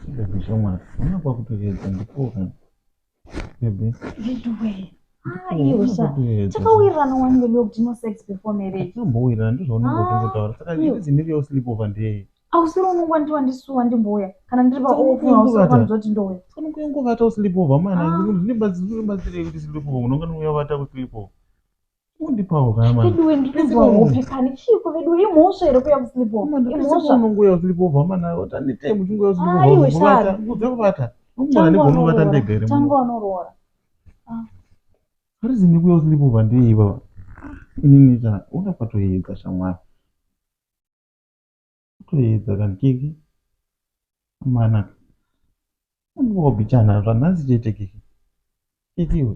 Baby zvamwa hana kwakutoedza ndipora. Baby. Veduwe. Hayi usa. Takawirirana wani baby kuti no sex before marriage. Tambowirirana ndizvo unenge utongotaura. Saka ndiri dzimiri yo sleep over ndeye. Ausiri unongo ndiwa ndisuwa ndimbouya. Kana ndiri pa off ausiri kwanzo kuti ndouya. Kana kuyongo vata u sleep over mana. Ndiri bazi ndiri bazi kuti sleep over unonga ndouya vata ku sleep over. undipawo kaya manje veduwe ndinonzwa hope kani chiiko veduwe imhosva here kuya kusleepover imhosva unongoya kusleepover mana tanitei muchingoya kusleepover kuda kubata ukumana negona ubata ndega here tangu anoroora harizi ndikuya kusleepover ndei baba inini ta ona kwatoyedza shamwari kwatoyedza kani kiki mana unongobichana zvanhasi chete kiki kikiwe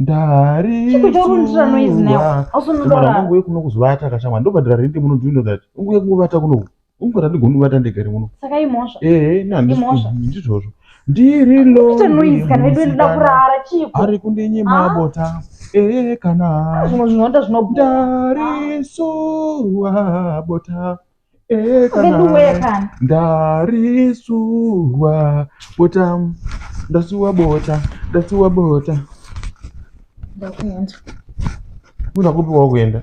ndariumwana wangu uye kuno kuzovata kashamwa ndobhadhara rente muno do you know that unguya kungovata kuno ungu randigoni kuvata ndegari muno saka imhosva ehe naimhosva ndizvozvo ndiri loari kundinyima ah. bota ehe kana ah, zvimwe zvinonda zvinodarisurwa bota Eh, kana Veduwe kana. ndarisuwa bota ndasuwa bota ndasuwa bota Ndakuenza. unakupi wakuenda